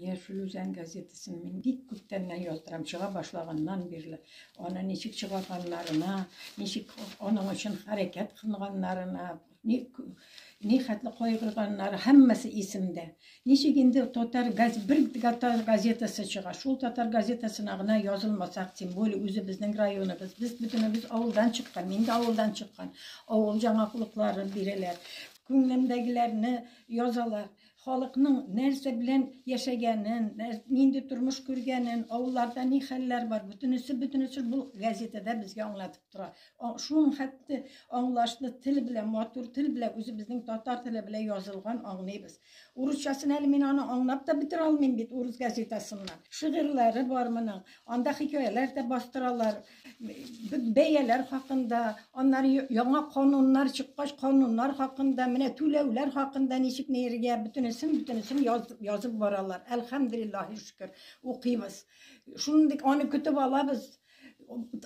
Яшел Үзән газетасын мин бик күптәннән яздырам, чыга башлаганнан бирле. Аны ничек чыгарганнарына, ничек аның өчен хәрәкәт кылганнарына, ни, ни хәтле кайгырганнары, һәммәсе исемдә. Ничек инде татар газ, бер татар газетасы чыга, шул татар газетасына гына язылмасак, тем более үзе безнең районыбыз, без бөтенебез авылдан чыккан, мин дә авылдан чыккан, авыл жаңалыклары бирәләр, күңелемдәгеләрне язалар, халыкның нәрсә белән яшәгәнен, нинди тормыш күргәнен, авылларда ни хәлләр бар, бөтенесе бөтенесе бу газетада безгә аңлатып тора. Шуның хәтта аңлашлы тел белән, матур тел белән, үзе безнең татар теле белән язылган аңлыйбыз. Урысчасын әле мин аны аңлап та бетерә алмыйм бит урыс газетасыннан. Шигырьләре бар моның. Анда хикәяләр дә бастыралар. Бәяләр хакында, аннары яңа кануннар чыккач, кануннар хакында, менә түләүләр хакында ничек нигә бөтенесен бөтенесен язып баралар. Әлхәмдулиллаһи шөкер, укыйбыз. Шундый аны көтеп алабыз.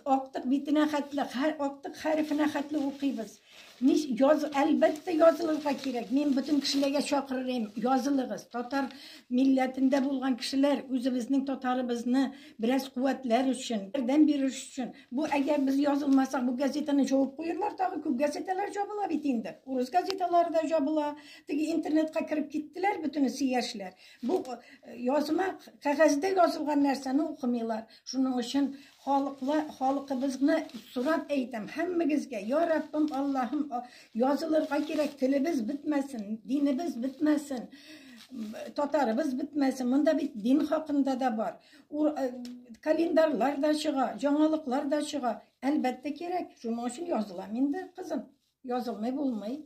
Актык битенә хәтле, актык хәрефенә хәтле укыйбыз. Мис яз әлбәттә язылырга кирәк. Мин бөтен кешеләргә чакырырым, язылыгыз. Татар милләтендә булган кешеләр үзебезнең татарыбызны бераз куәтләр өчен, ярдәм бирер өчен. Бу әгәр без язылмасак, бу газетаны җавып куерлар тагы, күп газеталар җабыла бит инде. Урыс газеталары да җабыла. Теге интернетка кереп киттеләр бөтенесе яшьләр. Бу язма кәгазьдә язылган нәрсәне укымыйлар. Шуның өчен халыкла, халыкыбызны сорап әйтәм, һәммәгезгә, я Раббым, Аллаһым, язылырга кирәк, телебез бетмәсен, динебез бетмәсен, татарыбыз бетмәсен. Монда бит дин хакында да бар. Ур, э, календарьлар да чыга, яңалыклар да чыга. Әлбәттә кирәк, шуның өчен язылам инде, кызым. Язылмый булмый.